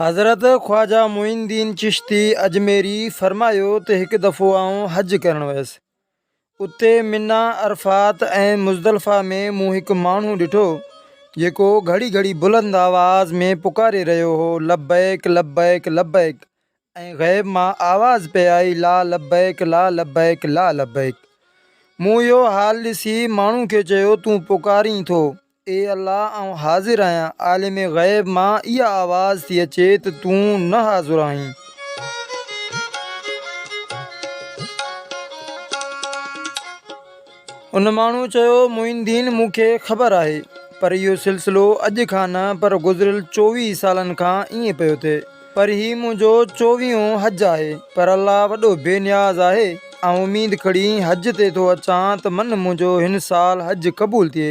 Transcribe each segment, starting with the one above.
حضرت خواجه معين الدين چشتي اجميري فرمايو ته هڪ دفعو آئون حج ڪرڻ ويس اتي منيٰ عرفات ۽ مزدلفه ۾ مون هڪ ماڻهو ڏٺو جيڪو گهڙي گهڙي بلند آواز ۾ پڪاري رهيو هو لبيڪ لبيڪ لبيڪ ۽ غيب مان آواز پئي آئي لا لبيڪ لا لبيڪ لا لبيڪ مون اهو حال ڏسي ماڻهو کي چيو تون پڪارين ٿو اي الله آئون حاضر آهيان عالم غيب مان اها آواز ٿي اچي ته تون نه حاضر آهين. ان ماڻهوء چيو، معين دين مون کي خبر آهي، پر اهو سلسلو اڄ کان نه پر گذريل چوويهه سالن کان ائين پيو ٿئي، پر هي منهنجو چوويهون حج آهي، پر الله وڏو بي نياز آهي، آئون اميد کڻي حج تي ٿو اچان ته من منهنجو هن سال حج قبول ٿئي،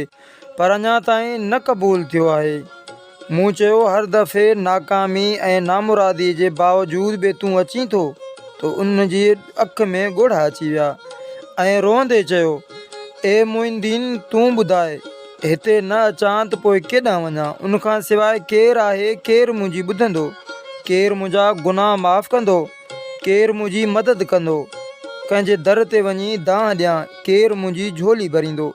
پر اڃا تائين نه قبول ٿيو آهي. مون چيو هر دفعي ناڪامي ۽ نامرادي جي باوجود به تون اچين ٿو ته ان جي اک ۾ ڳوڙها اچي ويا ۽ روئندي چيو اي معين الدين تون ٻڌاء هتي نه اچان ته پوء ڪيڏانهن وڃان ان کان سواء ڪير آهي ڪير منهنجي ٻڌندو ڪير منهنجا گناهه معاف ڪندو ڪير منهنجي مدد ڪندو ڪنهن جي در تي وڃي دانهن ڏيان ڪير منهنجي جهولي ڀريندو.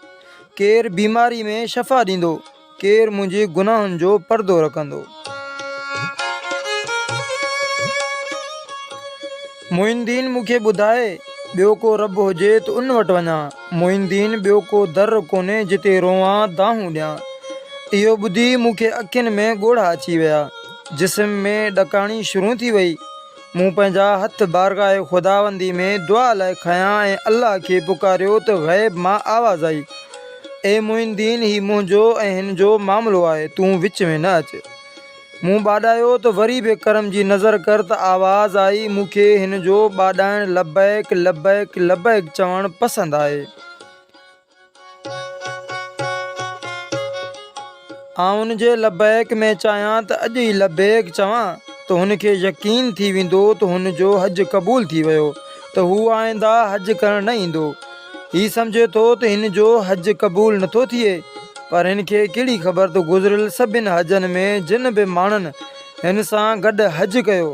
ڪير بيماري ۾ شفا ڏيندو، ڪير منهنجي گناهن جو پردو رکندو. معين دين مون کي ٻڌائي، ٻيو ڪو رب هجي ته ان وٽ وڃان. معين دين ٻيو ڪو در ڪونهي جتي روئان، دانهون ڏيان. اهو ٻڌي مون کي اکين ۾ ڳوڙها اچي ويا، جسم ۾ ڏڪاڻي شروع ٿي وئي. مون پنهنجا هٿ بارگاهه خداوندي ۾ دعا لاء کنيا ۽ الله کي پڪاريو ته غيب مان آواز آئي، اي معين دين هي منهنجو ۽ هن جو معاملو آهي، تون وچ ۾ نه اچ. مون ٻاڏايو ته وري به ڪرم جي نظر ڪر ته آواز آئي، مون کي هن جو ٻاڏائڻ لبيڪ، لبيڪ، لبيڪ چوڻ پسند آهي. آئون ان جي لبيڪ ۾ چاهيان ته اڄ ئي لبيڪ چوان ته هن کي يقين ٿي ويندو ته هن جو حج قبول ٿي ويو ته هو آئنده حج ڪرڻ نه ايندو. هي سمجهي ٿو ته هن جو حج قبول نه ٿو ٿئي پر هن کي ڪهڙي خبر ته گذريل سڀن حجن ۾ جن به ماڻهن هن سان گڏ حج ڪيو،